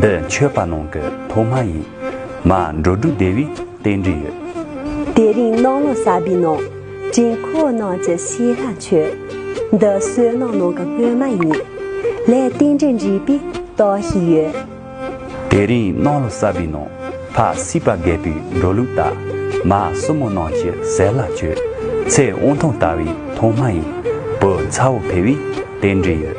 འདི་མཆོད་པ་ནང་གི་ཐོག་མ་ཡིན། མ་འགྲོ་སྒྲུབ་བདེ་བའི་རྟེན་འབྲེལ་ཡོད། དེ་རིང་གནང་ལོ་གསར་པའི་ནང། དྲིན་ཁོག་ནང་གི་ཤེས་ལྷ་མཆོད། འདི་བསོད་ནམས་ནང་གི་སྔོན་མ་ཡིན། ལས་རྟེན་འབྲེལ་འགྲིག་པའི་རྟགས་ཤིག་ཡོད། དེ་རིང་གནང་ལོ་གསར་པའི་ནང། ཕ་སྲིད་པ་རྒད་པོའི་འགྲོ་ལུགས་ལྟར། མ་སྲུ་མོ་ནང་གི་ཟས་ལྷ་མཆོད། ཚེ་དབང་ཐང་ལྟ་བའི་ཐོག་མ་ཡིན། བུ་ཚ་བོ་འཕེལ་བའི་རྟེན་འབྲེལ་ཡོད།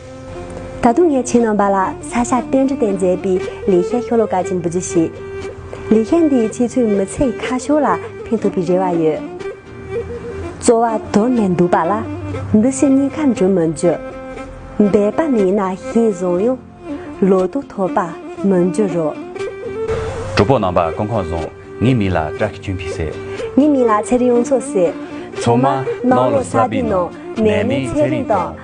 ད་དུང་ངས་ཁྱེད་རྣམ་པ་ལ་ས་ཞྭ་རྟེན་འབྲེལ་སྟེང་མཛད་པའི་ལེགས་བཤད་ཤོ་ལོ་ཀ་ཅན་འབུལ་རྒྱུ་བྱེད། ལེགས་བཤད་འདིས་ཁྱེད་ཚོའི་མི་ཚེ་ཡི་ཁ་ཕྱོགས་ལ་ཕན་ཐོགས་པའི་རེ་བ་ཡོད། རྩོལ་བ་དོར་ནས་འདུག་པ་ལ་འདི་ཕྱི་གཉིས་ཀ་འགྲུབ་མི་འགྱུར། འབད་པ་མེད་ན་ཤིང་བཟང་ཡང་ལོ་ཏོག་འཐོབ་པ་མི་འགྱུར་རོ། གྲོགས་པོ་རྣམ་པ་ཀུན་ཁང་བཟང། ངའི་མིང་ལ་བཀྲ་ཤིས་ཆོས་འཕེལ་ཟེར། ངའི་མིང་ལ་ཚེ་རིང་དབྱངས་མཚོ་ཟེར། ཚང་མ་སྣང་ལོ་སར་པའི་ནང་ནད་མེད་ཚེ་རིང་དང།